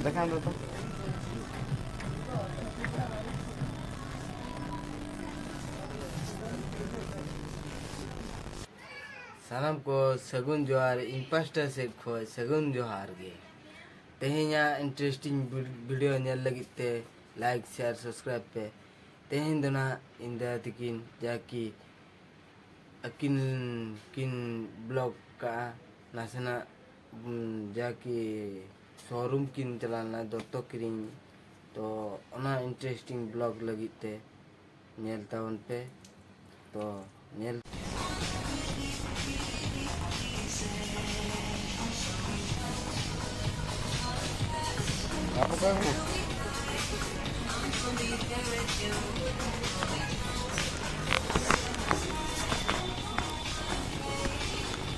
দেখান তো ᱥᱟᱱᱟᱢ ᱠᱚ ᱥᱟᱹᱜᱩᱱ ᱡᱚᱦᱟᱨ ᱤᱧ ᱯᱟᱥᱴᱟ ᱥᱮᱫ ᱠᱷᱚᱱ ᱥᱟᱹᱜᱩᱱ ᱡᱚᱦᱟᱨ ᱜᱮ ᱛᱮᱦᱮᱧᱟᱜ ᱤᱱᱴᱟᱨᱮᱥᱴᱤᱝ ᱵᱷᱤᱰᱤᱭᱳ ᱧᱮᱞ ᱞᱟᱹᱜᱤᱫ ᱛᱮ ᱞᱟᱭᱤᱠ ᱥᱮᱭᱟᱨ ᱥᱟᱵᱥᱠᱨᱟᱭᱤᱵ ᱯᱮ ᱛᱮᱦᱮᱧ ᱫᱚ ᱱᱟᱜ ᱤᱧ ᱫᱟᱫᱟ ᱛᱟᱹᱠᱤᱱ ᱡᱟᱦᱟᱸ ᱠᱤ ᱟᱹᱠᱤᱱ ᱠᱤᱱ ᱵᱞᱚᱜ ᱠᱟᱜᱼᱟ ᱱᱟᱥᱮᱱᱟᱜ ᱡᱟ ᱠᱤ ᱥᱳᱨᱩᱢ ᱠᱤᱱ ᱪᱟᱞᱟᱣ ᱞᱮᱱᱟ ᱫᱚᱛᱚ ᱠᱤᱨᱤᱧ ᱛᱚ ᱚᱱᱟ ᱤᱱᱴᱟᱨᱮᱥᱴᱤᱝ ᱵᱞᱚᱜ ᱞᱟᱹᱜᱤᱫ ᱛᱮ ᱧᱮᱞ ᱛᱟᱵᱚᱱ ᱯᱮ ᱛᱚ ᱧᱮᱞ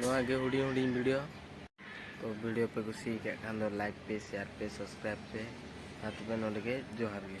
ᱱᱚᱣᱟ ᱜᱮ ᱦᱩᱰᱤᱧ ᱦᱩᱰᱤᱧ ᱵᱷᱤᱰᱤᱭᱳ ᱛᱚ ᱵᱷᱤᱰᱤᱭᱳ ᱯᱮ ᱠᱩᱥᱤ ᱟᱠᱟᱫ ᱠᱷᱟᱱ ᱫᱚ ᱞᱟᱭᱤᱠ ᱯᱮ ᱥᱮᱭᱟᱨ ᱯᱮ ᱥᱟᱵᱥᱠᱨᱟᱭᱤᱵ ᱯᱮ ᱟᱨ ᱛᱚᱵᱮ ᱱᱚᱰᱮ ᱜᱮ ᱡᱚᱦᱟᱨ ᱜᱮ